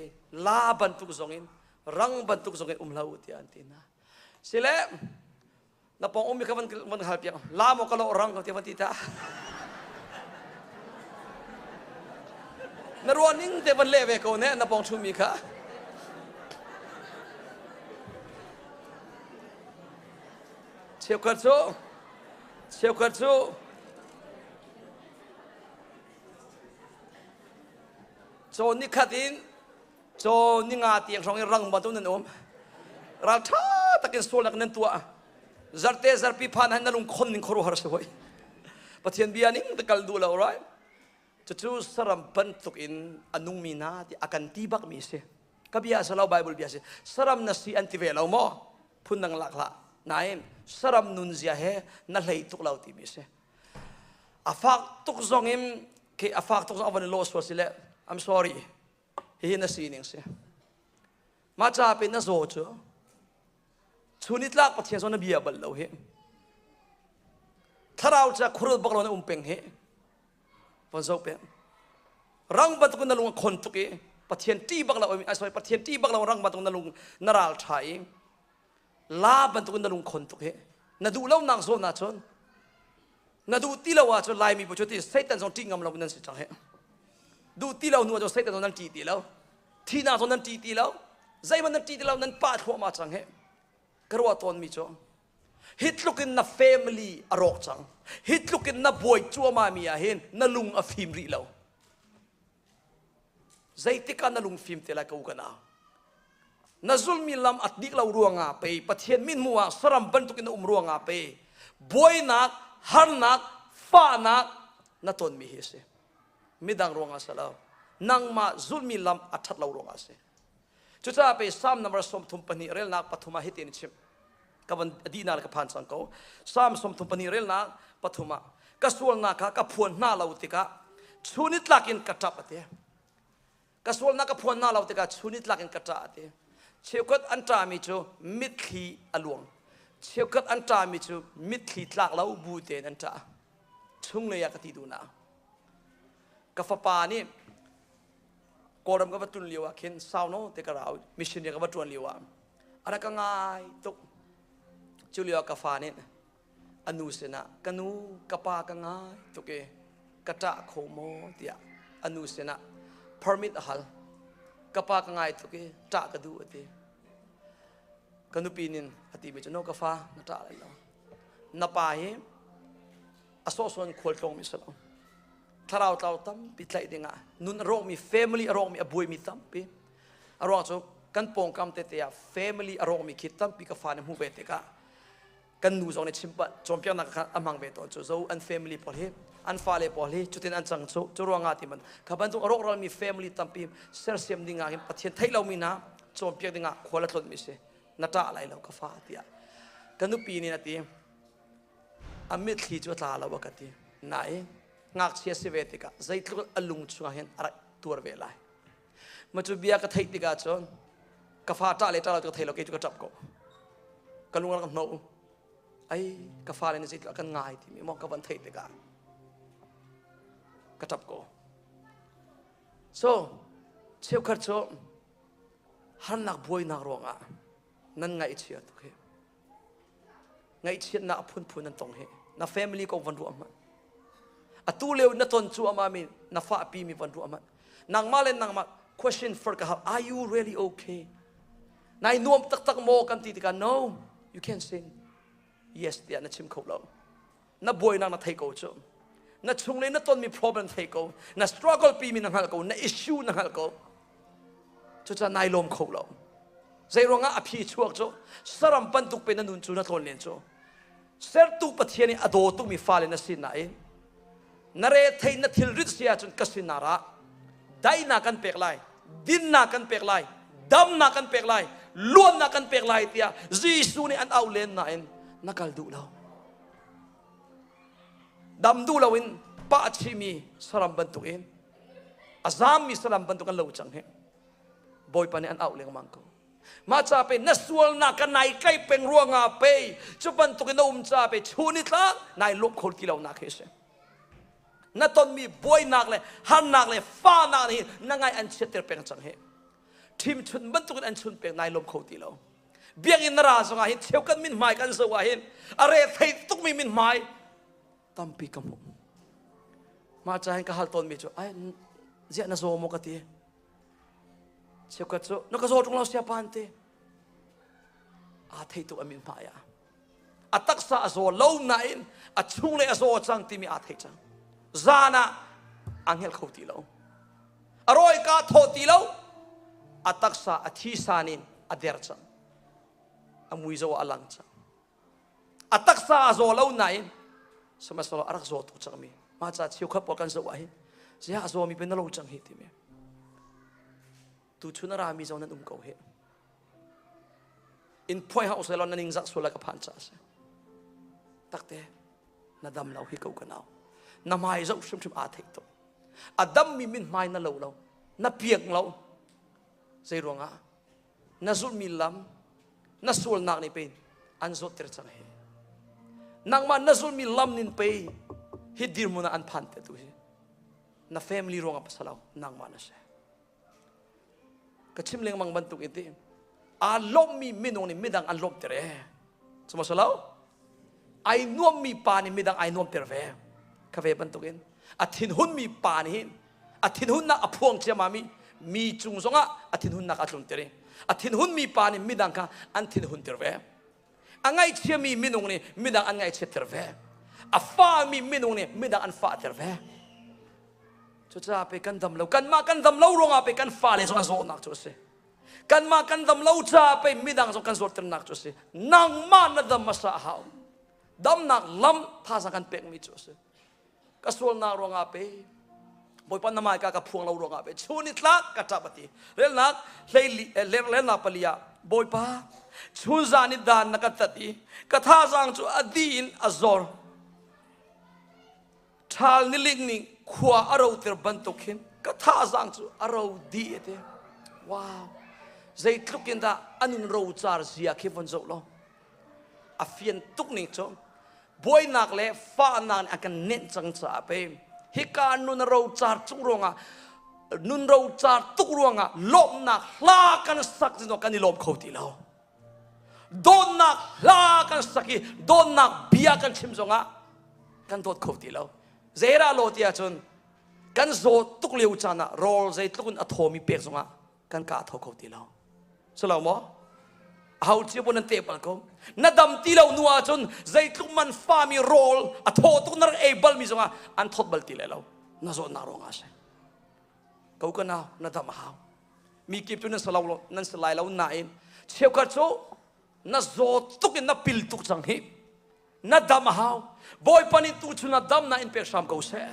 la bantuk zong in rang bantuk zong in um lo ti an ti na sile na pong um kha van hal piak la maw ka lo rang ka ti van ti ta na ruan ning te van le ve ko ne na pong chumi kha cheukhat cu cheukhat cu caw nikhat in Caw ninga tiang hrong i rangva tu nan um. Ral ṭha takin sual nak nan tuah. Zarte zarpi phan han na lung khon ning khoru har si hoi. Pathian bia ning te kal du lo right. Cucu saram bantuk in anung mi na ti akan ti bak mi si. Ka bia salau Bible bia si. Saram na si an ti ve lo mo. Phun nang lak la. Naim saram nun zia he na hlei tuk lo ti mi si. A fak tuk zong in ke a fak tuk zong avan lo sual si le I'm sorry. Hihi na sining si. Mah ca pin na zaw cu chun i tlak Pathian zawn na bia bal lo hi. Thlarau ca khurul bak lo na um peng hi. Von zo peng. Rang batuk na lung a khon tuk i Pathian ṭi bak lo ai sorry Pathian ṭi bak lo rang batuk na lung na ral ṭha i la bantukin na lungkhon tuk hi na duh lonak zawn ahcun na duh ti lo ahcun laimi bu cu ti satan zong ṭih ngam lo nan si cang hi duh ti lo hnu cu satan zong nan ṭih ti lo thihnak zong nan ṭih ti lo zeihmanh nan ṭih ti lo nan pah thluahmah cang hi ka ruah tawnmi cu hi tlukin na family a rawk cang hi tlukin na buai cuahmahmi ah hin na lung a fim rih lo Zeitik ah na lungfim te lai ko kan au. Na zulmi lam a dik lo ruangah pe, Pathian min hmuh ah saram bantuk in na um ruangah pe, buainak, harnak, fahnak na tonmi hi a si. Midang ruangah a si lo. Nangmah zulmi lam a ṭhat lo ruangah a si. Cucaah pe Salm number sawmthum pahnih relnak pathum ah hitin a chim. Ka van dihna le ka phan cang ko. Salm sawmthum pahnih relnak pathum ah ka sualnak kha ka phuan hna lo tikah chun i tlak in ka ṭap a ti. Ka sualnak ka phuan hna lo tikah chun i tlak in ka ṭah a ti. Cheukhat an ṭahmi cu mitthli a luang. Cheukhat an ṭahmi cu mitthli tlak lo bu tein an ṭah. Chunglei ah ka ti duhnak. Ka fapa nih kawlram ka va tun lio ah khin sau no te ka rau mission ya ka va tuan lio ah ara ka ngai tuk cu lio ka fa nih anu sinah ka nu ka pa ka ngai tuk i ka ṭah kho maw tiah anu sinah permit a hal ka pa ka ngai tuk i ṭah ka duh a ti ka nupi nin a ti mi cu no ka fa na ṭah lai lo na pa hi a sawhsawn khual tlawng mi si lo thlarau tlau tampi tlaih dingah nun a rawhmi family a rawhmi a buaimi tampi a ruang cu kan pawngkam tete ah family a rawhmi khi tampi ka fa nih hmuh ve tikah kan nu zong nih chimpah cawnpiaknak kha a hmang ve tawn cu zo an family pawl hi an fale pawl hi cutin an cang cu cu ruangah ti man kha bantuk a rawhralmi family tampi sersiam dingah hin pathian theih lomi hna cawnpiak dingah khual a tlonmi si na ṭah lai lo ka fa tiah ka nupi nih a ti a mitthli cu a tla lo a ka ti nain ngakchia si ve tikah zeitluk a lung chungah hin a rak tuar ve lai ma cu bia ka theih tikah cun ka fa ṭah le ṭah lo cu ka thei lo kei cu ka ṭap ko ka lung a rak hnawh ai ka fa le nih zeitluk a kan ngai timi mong ka van theih tikah ka ṭap ko so cheukhat cu harnak buainak ruangah nan ngaih a chia tuk hi ngaihchiatnak phunphun an tong hi na family ko van ruah hmanh atu leo na ton cu ama mi na fa pi mi van ruah hmanh nangmah le nangmah question for ka hap are you really okay nai nuam taktak maw kan ti tikah no you can sing yes tiah na chim kho lo na buainak na thei ko cu na chung le na tonmi problem thei ko na struggle pimi na hngalh ko na issue na hngalh ko cucaah nai lawm kho lo zei ruangah a phi chuak cu saram bantuk pe na nun cu na tlawn len cu sertu pathian i a dawtumi fale na sin nain na re thei na thilrit si ahcun ka sinar ah daihnak kan pek lai dinnak kan pek lai damnak kan pek lai luannak kan pek lai tiah Jesuh nih an au len nain na kal duh lo dam duh loin pah a chimi saram bantukin a zammi saram bantuk an lo cang hi bawipa nih an auh lengmang ko mah ca pe na sualnak ka nai kai peng ruangah pe cu bantukin na um ca pe chu ni tla nai lawm kho ti lo nak hi si na tonmi buainak le harnak le fanak nih na ngai an chiatter peng cang hi thim chun bantukin an chun peng nai lawm kho ti lo biakinn na ra zong ah hin cheu kan min hmai kan zoh ah hin a re thei tukmi min hmai tampi ka hmuh mah ca hin ka hal tawnmi cu ai ziah na zaw maw ka ti cheukat cu na ka zaw ṭung lo sia pan ti aa thei tuk a min hmai ah a taksa a zaw lo nain a chung le a zaw cang timi aa thei cang zan ah aa hngelh kho ti lo a rawika thawh ti lo a taksa a thisan in a der cang a mui zaw a lang cang a taksa a zaw lo nain sihmahsehlaw a rak zaw tuk cangmi mah ca cheu khat pawl kan zoh ah hi ziah a zawmi pe na lo cang hi timi tuchun a rami zong nan um ko hi in phuai ha usai lon na ningzak sual like a phan cha si takte na dam lo hi ko ka nau na mai zo hrim hrim a thei to a dam mi min mai na lo lo na piak lo zei ruanga na zul mi lam na sual nak ni pe an zo tir chang he nangma na zul mi lam nin pe hi dirmuna an phan te tu hi na family ruanga pasalo nangma na se ka chim lengmang bantuk i ti aa lawmmi minung nih midang an lawmter e sumawsolo ai nuammi pa nih midang ai nuamter ve ka ve bantuk in a thinhunmi pa nih hin a thinhunnak a phuang ciamami mi cung zongah a thinhunnak a tlunter i a thinhunmi pa nih midang kha an thinhunter ve A ngaithiami minung nih midang an ngaihchiatter ve. A fami minung nih midang an fahter ve. Cucaah pe kan dam lo. Kanmah kan dam lo ruangah pe kan fale zong a zawtnak cu a si. Kanmah kan dam lo caah pe midang zong kan zawtternak cu a si. Nangmah na dam hmasa a hau. Damnak lam thaza kan pekmi cu a si. ka sualnak ruangah pe bawipa na mai ka ka phuang lo ruangah pe chu ni tlak ka ṭap ati relnak hleili eh, lenglennak pali ah bawipa chun zan i dan na ka tat i ka thazang cu a di in a zor ṭhal niling ning khua a ro ter bantuk hin ka thazang cu a ro di ate wow zeitluk in dah anun ro car zia khi von zoh law a fian tuk ning cu buainak le fahnak nih a kan nenh cang caah pe hika nun a rocar chung ruangah nun rocar tuk ruangah lawmhnak hla kan sak zingah kan i lawm kho ti lo dawtnak hla kan sak i dawtnak bia kan chim zongah kan dawt kho ti lo zeirah law ti ahcun kan zawt tuk lio caan ah rawl zeitluk in a thawmi pek zongah kan ka tho kho ti lo selo maw ho cia bu nan te pal ko na dam ti lo nu ahcun zeitluk man fami rawl a thaw tuk na rak ei bal mi zongah an thawt bal ti le lo na zawt na rong a si ko ka na na dam a hau mi kip cu nan sa lo nan sa lai lo na in cheukhat cu na zawt tuk in na pil tuk cang hi na dam a hau bawipa nih tu chun ah damnak in pek hram ko seh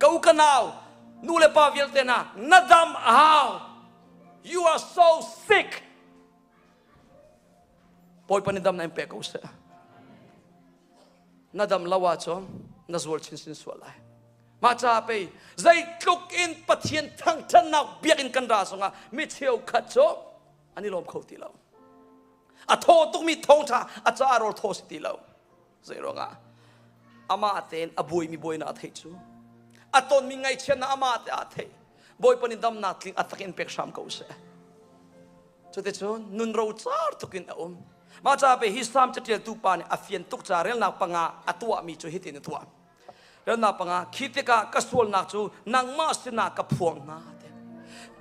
ko ka nau nu le pa vialte na na dam a hau you are so sick bawipa nih damnak in pek ko seh na dam lo ahcun na zual chinchin sual lai mah caah pei zeitluk in pathian thangthannak biakinn kan ra zongah mi cheukhat cu an i lawm kho ti lo a thaw tukmi thawngṭha a caah rawl thaw si ti lo zei ruangah amah tein a buaimi buainak a theih cu a tonmi ngaihchiatnak amah te a theih bawipa nih damnak tling a takin pek hram ko seh cuticun nun rocar tukin a um mah caah pe hi salm caṭialtu pa nih a fian tuk ca relnak panga a tuahmi cu hitin a tuah Rannak panga, khi tikah ka sualnak cu nangmah sinah ka phuang hna te.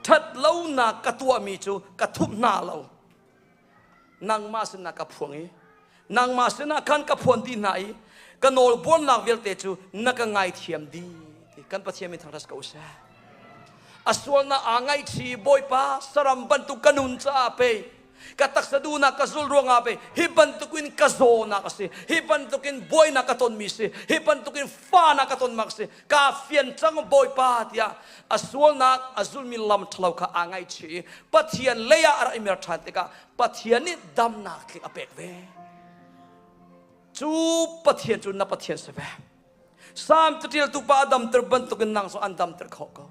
Ṭhat lonak ka tuahmi cu ka thup hna lo. Nangmah sinah ka phuang i nangmah sinah khan ka phuan ti hna i ka nawlbuarnak vialte cu na ka ngaithiam dih ti kan Pathian min thangṭhat ko seh. A sualnak aa ngaihṭi Bawipa saram bantuk ka nun caah pei ka taksa duhnak ka zulh ruangah ve hi bantukin ka zawnak a si hi bantukin buainak ka tonmi si hi bantukin fanak ka tonmak si ka fian cang bawipa tiah a sualnak a zulmi lam ṭhalo kha aa ngaihchih i pathian leiah a rak i mer ṭhan tikah pathian nih damnak thlik a pek ve cu pathian cu na pathian si ve Salm caṭialtu pa a damter bantukin nang cu an damter khawh ko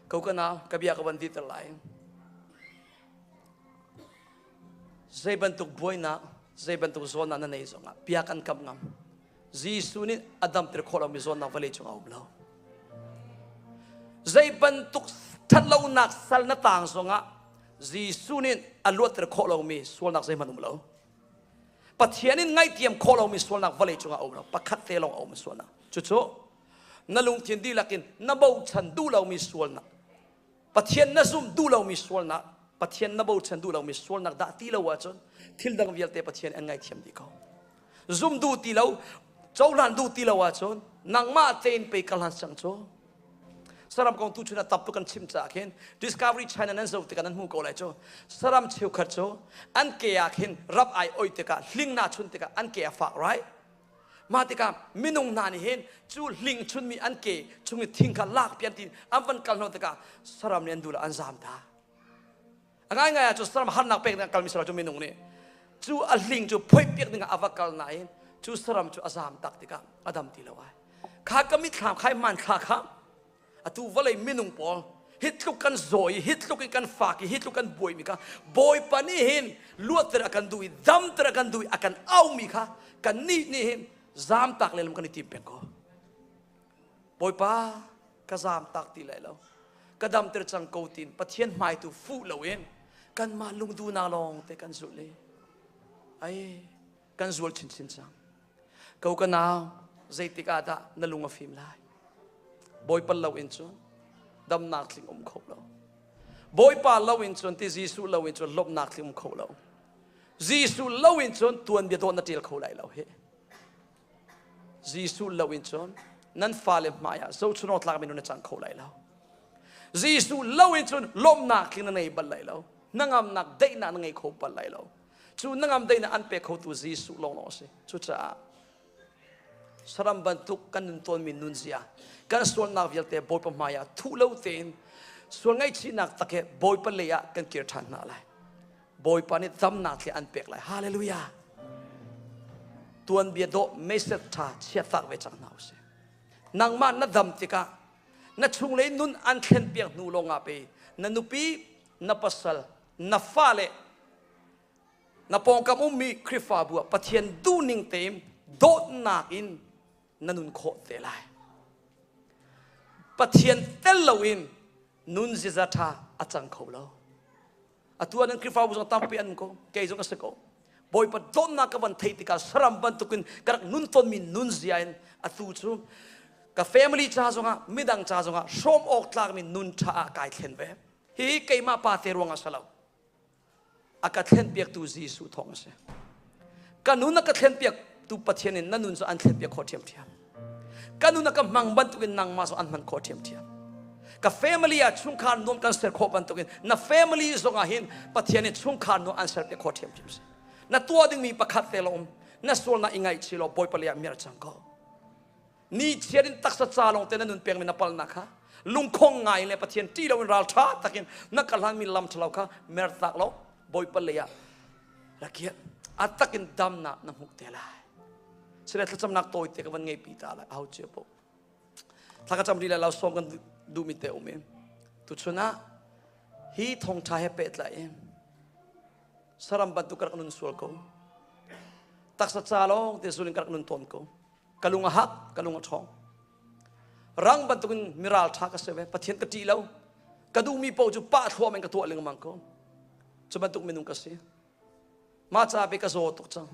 ko ka nau ka bia ka van dir ter lai Zei bantuk buainak, zei bantuk zawnnak na neih zongah bia kan kam ngam. Jesuh nih a damter khawh lomi zawnnak vale cung a um lo. Zei bantuk ṭhatlonak sal na tang zongah Jesuh nih a luatter khawh lomi sualnak zeihmanh um lo. Pathian in ngaihtiam khawh lomi sualnak vale cungah a um lo. Pakhat te lawng a um sualnak. Cucu na lungthin dihlak in na bochan duh lomi sualnak Pathian na zum duh lomi sualnak, Pathian na bochan duh lomi sualnak dah ti lo ahcun thil dang vialte Pathian an ngaithiam dih ko. Zum duh ti lo, cohlan duh ti lo ahcun nangmah tein pe ka hlan sang cu saram kong tu chun a taptu kan chim caah khin Discovery China nan zoh tikah nan hmu ko lai cu saram cheukhat cu an ke ah khin rap ai oi tikah hling na chun tikah an ke a fak right Mah tikah minung hna nih hin cu hling chunmi an ke chung i thing kha lak pi an ti an van kal hna tikah saram nih an dul ah an zam ta. A ngaingai ah cu saram harnak pek ding kalmi saram cu minung nih cu a hling cu phoih piak dingah a va kal nain cu saram cu a zam tak tikah a dam ti lo ai. Kha ka mitthlam khai hmanthlak kha atu vawlei minung pawl hi tluk kan zaw i hi tluk in kan fak i hi tluk kan buaimi kha bawipa nih hin luatter a kan duh i damter a kan duh i a kan aumi kha kan nih nih hin zamtak le lam kan i tim peng ko bawipa ka zamtak ti lai lo ka damter cang ko tin pathian hmaitu fuh lo in kanmah lungduhnak lawng te kan zulh i ai kan zual chinchin cang ko ka nau zeitik ah dah na lung a fim lai bawipa lo in cun damnak tling um kho lo bawipa lo in cun ti jesuh lo in cun lawmhnak tling um kho lo jesuh lo in cun tuanbia dawt na ṭial kho lai lo hi jesuh lo in cun nan fale hmaiah zochunawng tlak minun na cang kho lai lo jesuh lo in cun lawmhnak tling na ngei bal lai lo na ngamnak daihnak na ngei kho bal lai lo cu nangam deinak an pek khotu Jesuh lawnglawng a si cucaah saram bantuk kan nun tawnmi nunzia kan sualnak vialte Bawipa hmaiah thuh lo tein sual ngaihchihnak tak he Bawipa lei ah kan kir ṭhan hna lai Bawipa nih damnak he an pek lai hallelujah tuanbia dawh message ṭha chiatak ve cang hna u sih nangmah na dam tikah na chunglei nun an thlen piak hnu lawngah pei na nupi na pasal na fale na pawngkam ummi Khrihfabu ah Pathian duhning tein dawtnak in na nun khawh te lai. Pathian tel loin nun ziza ṭha a cang kho lo. Atu ah nan Khrihfabu zong tampi an ko, kei zong a si ko. Bawipa dawtnak ka van thei tikah saram bantukin ka rak nun tonmi nunzia in atu cu ka family ca zongah midang ca zongah hrawm awk tlakmi nun ṭha ah kai thlen ve. hi keimah pate ruang a si lo a ka thlenpiaktu Jesuh thawng a si ka nun a ka thlenpiaktu Pathian in na nun cu an thlenpiak khawh ṭhiamṭhiam ka nun a ka hmang bantukin nangmah cu an hman khawh ṭhiamṭhiam ka family ah chungkhar nuam kan ser khawh bantukin na family zongah hin Pathian nih chungkhar nuam an serpiak khawh ṭhiamṭhiam si na tuah dingmi pakhat te la um na sualnak i ngaihchih law Bawipa leiah mir cang ko ni chiat in taksa ca lawngte na nun pengmi na palnak kha lungkhong ngai le pathian ṭih loin ralṭha takin na kalhlanmi lam ṭhalo kha mertak lo bawipa lei ah rakiah a takin damnak na hmuh te lai sile thlacamnak tawite ka van ngeipi ta lai aho cia po thaka cam ri le lo som kan duhmi te um in tu chun ah hi thongṭha he pehtla in saram bantuk ka rak nun sual ko taksa ca lawng te sulin ka rak nun tawn ko ka lung a hak ka lung a ṭhawng rang bantukin miral ṭha ka si ve pathian ka ṭih lo ka duhmi paoh cu pah thluam in ka tuah lengmang ko cu bantuk minung ka si mah ca pe ka zaw tuk cang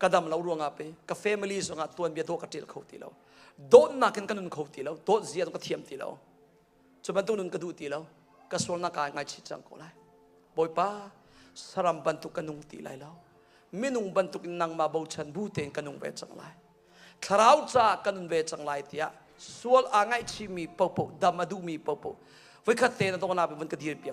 ka dam lo ruangah pe ka family zongah tuanbia dawh ka ṭil kho ti lo dawtnak in ka nun kho ti lo dawt zia tu ka thiam ti lo cu bantuk nun ka duh ti lo ka sualnak ka ngaichih cang ko lai bawipa saram bantuk ka nung ti lai lo minung bantuk in nangmah bochan bu tein ka nung ve cang lai thlarau ca ka nun ve cang lai tiah sual aa ngaihchihmi popo dam a duhmi popo voikhat te na dawhnak vun ka dir piak